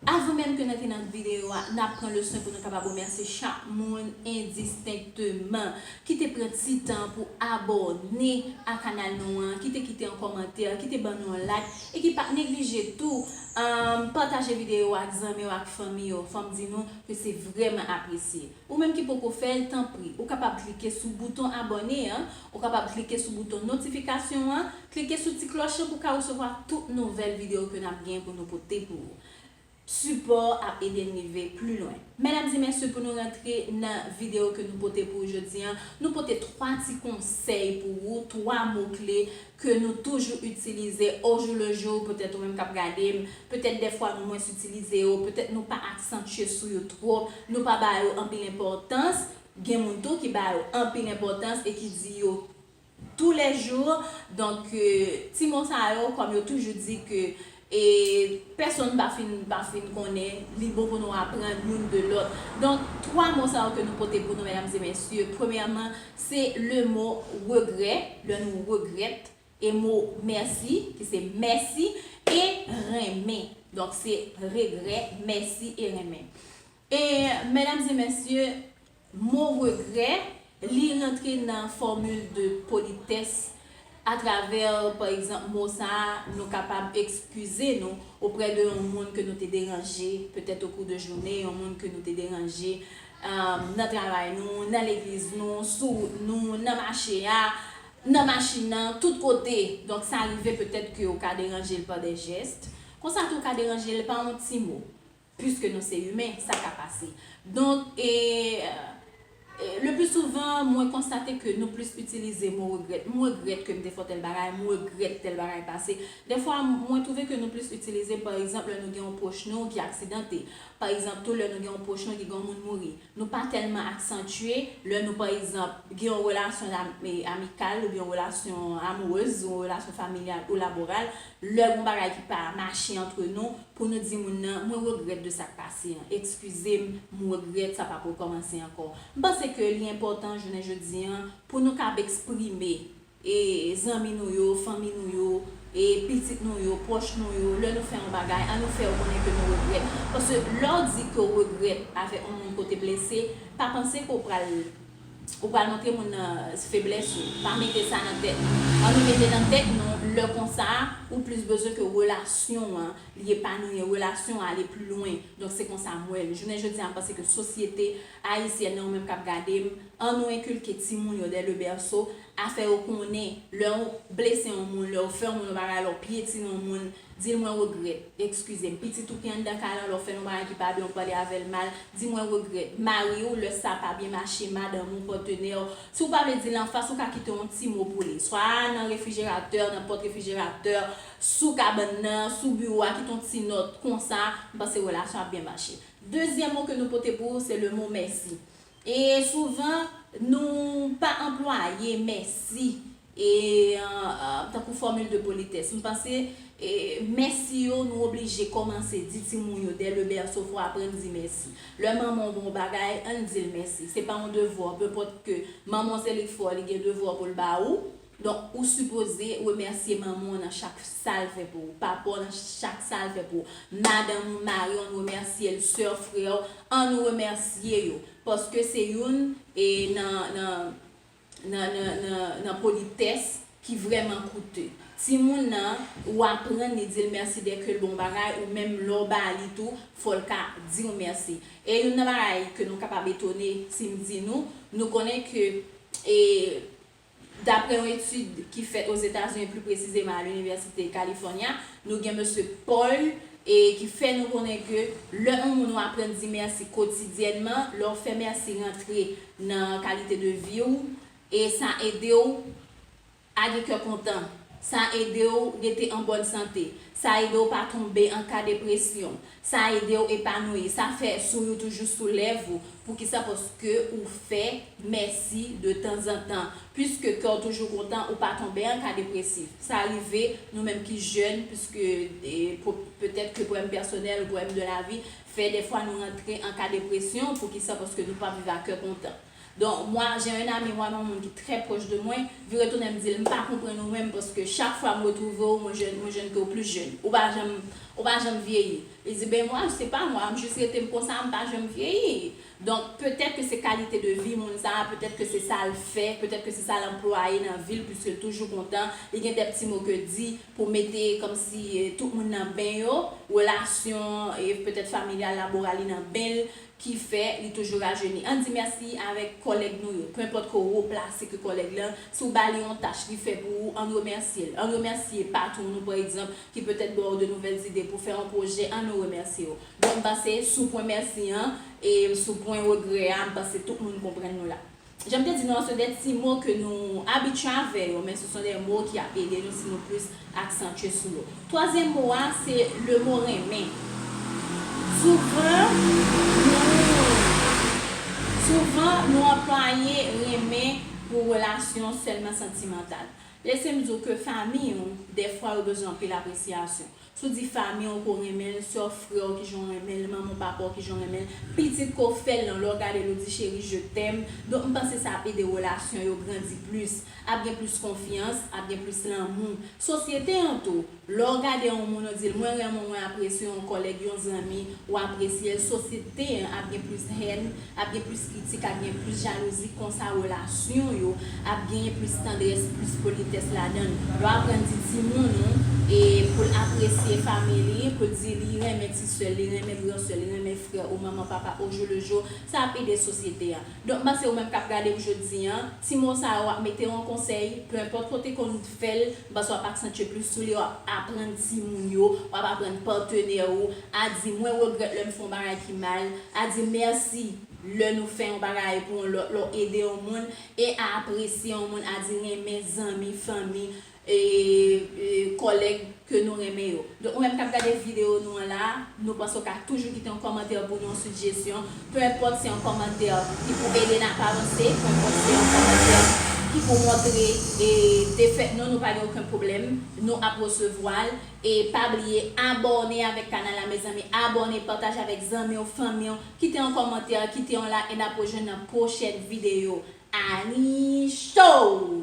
Avan menm ke n antre nan videyo a, n ap pran le swen pou nou kapab remèsye chak moun endistenkteman ki te pran ti tan pou abòne a kanal nou an, ki te kite yon kòmantè, ki te ban nou yon like e ki pa t neglije tou pataje videyo a ak zanmi yo ak fanmi yo. Fò m di nou ke se vrèman apresye. Ou menm ki poko fè l tanpri ou kapab klike sou bouton abòne an, ou kapab klike sou bouton notifikasyon an, klike sou ti klòch lan pou w ka resevwa tout nouvèl videyo ke n ap gen pou nou pote pou ou. Sipò ap ede n rive pli lwen. Medam e mesye pou nou rantre nan videyo ke nou pote pou ou jodi an, nou pote 3 ti konsèy pou ou, 3 mo kle ke nou toujou itilize ojoulejou, petèt ou menm kap gade m, petèt dèfwa nou mwens itilize yo, petèt nou pa aksantye sou yo twòp, nou pa ba yo anpil enpòtans, gen moun tou ki ba yo anpil enpòtans e ki di yo tou lè jou, donk ti mo sa yo kòm yo toujou di ke E pèsonn pa fin pa fin konnen li bon pou nou aprann youn de lòt. Donk, twa mo sa yo ke nou pote pou nou, medam e mesye, premyèman, se le mo regrè, lè nou regrèt, e mo mèsi, ki se mèsi, e renmen. Donk, se regrè, mèsi, e renmen. E, medam e mesye, Mot regret, li rantre nan formule de politesse a travers par exemple mot sa a nou kapab excuser nou auprès de yon moun ke nou te deranje peut-être au cours de journée, yon moun ke nou te deranje nan travay nou, nan legliz nou, sou wout nou, nan mache a, nan machin nan, tout kote. Donk sa rive peut-être ke ou ka deranje l par des gestes. Konsa tou ou ka deranje l par yon ti mot. Puiske nou se imen, sa ka pase. Donk, e, e, le pli souvan, mwen konstate ke nou plis itilize mo regrèt. M regrèt ke m te fè w tèl bagay, m regrèt tèl bagay pase. Dèfwa, mwen twouve ke nou plis itilize, pa egzanp, lè nou gen yon pwòch nou ki aksidante. Pa egzanp tou, lè nou gen yon pwòch nou ki gen yon moun mouri. Nou pa tèlman aksantye lè nou, pa egzanp, gen yon relasyon dam, e, amikal oubyen yon relasyon amourez, yon relasyon familyal ou laboral. Lè gon bagay ki pa mache antre nou, Pou nou di moun nan, mwen regrèt de sak pase an, ekskize m, m regrèt sa pap rekòmanse ankò. M panse ke li enpòtan jounen jodi an pou nou kab eksprime e zanmi nou yo, fanmi nou yo, e pitit nou yo, pwòch nou yo, lè nou fè yon bagay, an nou fè yo konnen ke nou regrèt. Paske lè w di ke w regrèt avèk yon moun ke w te blese, pa panse ke w pral. Ou pral montre moun nan feblès ou. Pa mete sa nan tèt nou. An nou mete nan tèt nou lè konsa ou plis bezwen ke relasyon an li epanouye, relasyon an ale pli lwen. Donk se konsa m wè l. Jounen jodi a m panse ke sosyete ayisyèn nan ou menm k ap gade m, an nou enkilke timoun yo dè le berceau a fè yo konnen lè ou blese yon moun, lè ou fè yon moun yon bagay, lè ou pyetine yon moun, Di l mwen regrèt. Ekskize m. Pitit ou ki anndan kay lan, lè w fè l yon bagay ki pa byen, ou pale avè l mal, di mwen regrèt. Mari w, lè sa pa byen mache, madanm ou, patenè w, si w pa vle di l anfas, ou ka kite yon ti mo pou li. Swa nan refrijeratè, nan pòt refrijeratè, sou kabann nan, sou biwo a, kite yon ti nòt. Konsa, m panse relasyon ap byen mache. Dezyèm mo ke nou pote pou ou, se le mo mèsi. E souvan nou pa anplwaye mèsi tankou fòmil de politès. M panse mèsi yo nou oblije kòmanse di timoun yo dè le bèso fò aprann di mèsi. Lè manman w ba w yon bagay, ann di l mèsi. Se pa yon devwa, pèpòt ke manman w se li k fè w, li gen devwa pou l ba ou. Donk ou sipoze remèsye manman w nan chak sa l fè pou ou, papa w nan chak sa l fè pou ou, madanm ou, mari w, ann remèsye l, sè w, frè w, an nou remèsye yo, paske se youn nan politès ki vrèman koute. Timoun nan, ou aprann li di l mèsi dèke l bon bagay, ou menm lè w ba li tou, fò l ka di w mèsi. E youn nan bagay ke nou kapab etone si m di nou, nou konnen ke Dapre yon etid ki fèt Ozetazini pli presizeman a Linivèsite California, nou gen Mesye Paul e ki fè nou konnen ke lè yon moun ou aprann di mèsi kotidyènman, lè w fè mèsi rantre nan kalite de vi w e sa ede w a gen kè kontan, sa ede w rete an bòn sante, sa ede w pa tonbe an ka depresyon, Sa ede w epanouyi. Sa fè souri toujou sou lèv ou. Poukisa? Paske ou fè mèsi de tanzantan. Piske kè w toujou kontan, ou pa tonbe an ka depresif. Sa rive nou menm ki jèn, piske petèt ke pwoblèm pèsonèl ou pwoblèm de lavi, fè dèfwa nou rantre an ka depresyon. Poukisa? Paske nou pa viv a kè kontan. Don moi j'ai un ami moi yon moun ki trè pwòch de mwen, vire tounen m di l m pa konprann ou menm paske chak fwa m retwouve w mwen jwenn mwen jwenn ke w plis jèn. Ou pa janm ou pa janm vyeyi. Li di ben moi se pa moi m jis rete m konsa m pa janm vyeyi. Donk petèt ke se kalite de vi moun sa a, petèt ke se sa l fè, petèt ke se sa l anplwaye nan vi l puiske l toujou kontan, li gen dè pti mo ke di pou mete kòmsi tout moun nan ben yo, relasyon petèt familyal laboral li nan ben l, ki fè li toujou rajeni. Ann di mèsi avèk kòlèg nou yo, penpòt ke w wo plase ke kòlèg lan, si w ba li yon tach li fè pou ou, ann remèsye l. Ann remèsye patwon nou pa egzanp, ki petèt ba w de nouvèl zide pou fè yon pwojè, ann nou remèsye yo. Donk m panse sou pwen mèsi an, e sou pwen regrè a, m panse tout moun konprann nou la. Janm te di nou an se de ti mo ke nou abitye avè yo men se son de mo ki ap ede nou si nou plis aksantye sou yo. Twazyèm mo a se le mo renmen. Souvan nou souvan nou anplwaye renmen pou relasyon sèlman santimantal. Lese m di w ke fanmi ou dèfwa yo bezwen anpil apresyasyon. Sou di fanmi w ke w renmen l, sè w, frè w kijan w renmen l, manman w, papa w kijan w renmen l, pitit ke w fè l lan, lè w gade l ou di cheri je t'aime, donk m panse sa ap ede relasyon yo grandi plis, ap gen plis konfyans, ap gen plis lanmou. Sosyete an tou, lè w gade yon moun ou di l mwen renmen w mwen apresye w yon kòlèg yon zanmi, ou apresye l, sosyete an ap gen plis haine, Ap gen plis kritik, ap gen plis jalouzi, konsa relasyon yo ap genyen plis tandrès, plis politès ladan l. Yo aprann di timoun ou e pou l apresye fanmi li, pou l di li renmen ti sè l, li renmen gran sè l, li renmen frè ou, manman, papa, ojoulejo, sa ap ede sosyete a. Donk m panse ou menm k ap gade m jodi an, ti mo sa yo ap mete w an konsèy, penenpòt kote konn fè l, Paske wap aksantye plis sou li, wap aprann timoun yo, wap aprann patenè ou, a di mwen regrèt lè m fè yon bagay ki mal, a di mèsi lè nou fè yon bagay pou yon lòt, lè w ede yon moun, e a apresye yon moun, a di renmen zanmi, fanmi, e kòlèg ke nou renmen yo. Donk ou menm kap gade video nou an la, nou panse ou ka toujou kite yon kòmantè pou nou, yon sijesyon, peu enpòt se yon kòmantè ki pou ede n ap avanse, peu enpòt se yon kòmantè ki pou montre defèt nou, nou pa gen oken pwoblèm, nou ap resevwa l, e pa bliye abòne avèk kanal la mezanmi, abòne, pataje avèk zanmi w, fanmi w, kite yon kòmantè, kite yon like e n ap rejwenn nan pwochèn video. Annie Show!